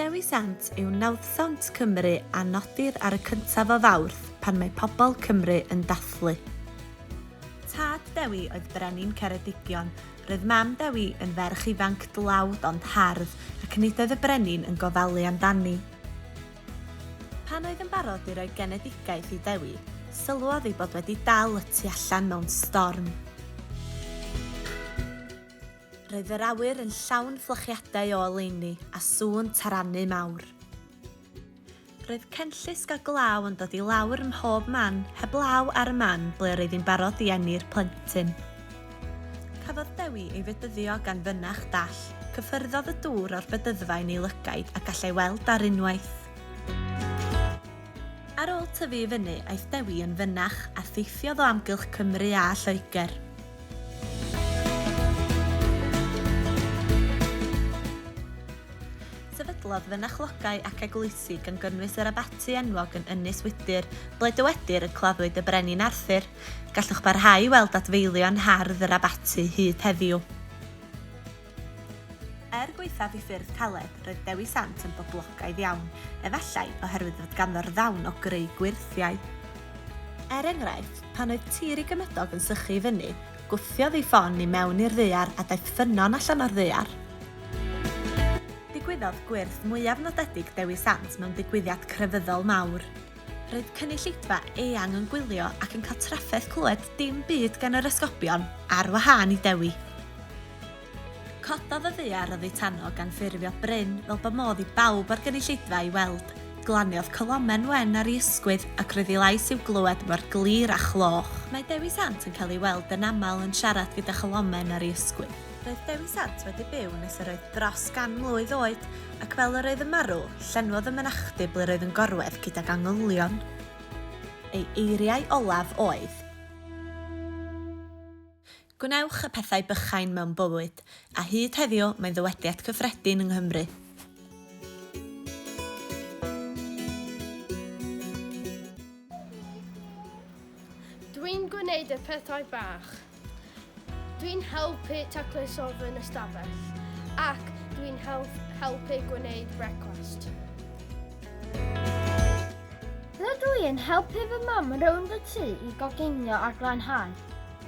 Dewisant yw nawddsant Cymru a nodir ar y cyntaf o Fawrth pan mae pobl Cymru yn dathlu. Tad Dewi oedd brenin Ceredigion. Roedd mam Dewi yn ferch ifanc dlawd ond hardd ac nid oedd y brenin yn gofalu amdani. Pan oedd yn barod i roi genedigaeth i Dewi, sylwodd ei bod wedi dal y tu allan mewn storm. Roedd yr awyr yn llawn fflachiadau o oleuni a sŵn tarannu mawr. Roedd cenllysg a glaw yn dod i lawr ym mhob man, heblaw ar y man ble yr oedd hi'n barod i eni'r plentyn. Cafodd Dewi ei fedyddio gan fynach dall, cyffyrddodd y dŵr o'r bedyddfa yn ei lygaid a gallai weld ar unwaith. Ar ôl tyfu i fyny, aeth Dewi yn fynach a theithiodd o amgylch Cymru a Lloegr. Sefydlodd fynychlogau ac eglwysi gan gynnwys yr abaty enwog yn Ynys Wydyr, ble dywedir y claddwyd y Brenin Arthur. Gallwch barhau i weld adfeilion hardd yr abaty hyd heddiw. Er gwaethaf i ffyrdd caled, roedd Dewi Sant yn boblogaidd iawn, efallai oherwydd fod ganddo'r ddawn o greu gwyrthiau. Er enghraifft, pan oedd tir ei gymydog yn sychu i fyny, gwthiodd ei ffon i mewn i'r ddaear a daeth ffynnon allan o'r ddaear. Digwyddodd gwyrth mwyaf nodedig Dewi Sant mewn digwyddiad crefyddol mawr. Roedd cynulleidfa eang yn gwylio ac yn cael trafferth clywed dim byd gan yr esgobion, ar wahân i Dewi. Cododd y ddaear oddi tano gan ffurfio bryn fel bo modd i bawb o'r gynulleidfa ei weld. Glaniodd colomen wen ar ei ysgwydd, ac roedd ei lais i'w glywed mor glir â chloch. Mae Dewi Sant yn cael ei weld yn aml yn siarad gyda cholomen ar ei ysgwydd. Roedd Dewi Sant wedi byw nes yr oedd dros gan mlwydd oed, ac fel yr oedd yn marw, llenwodd y mynachdy ble roedd yn gorwedd gydag angylion. Ei eiriau olaf oedd. Gwnewch y pethau bychain mewn bywyd, a hyd heddiw mae'n ddywediad cyffredin yng Nghymru. Dwi'n gwneud y pethau bach. Dwi'n helpu taclu sofa yn y stafell ac dwi'n helpu gwneud brecwast. Rydw i yn helpu fy mam rownd y tŷ i goginio a glanhau.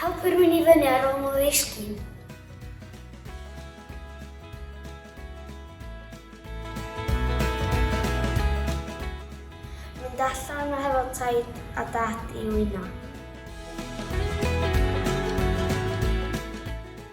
Helpu rhywun i fyny ar ôl nhw ddisgyn. Mynd allan a hefo taid a dad i wyno.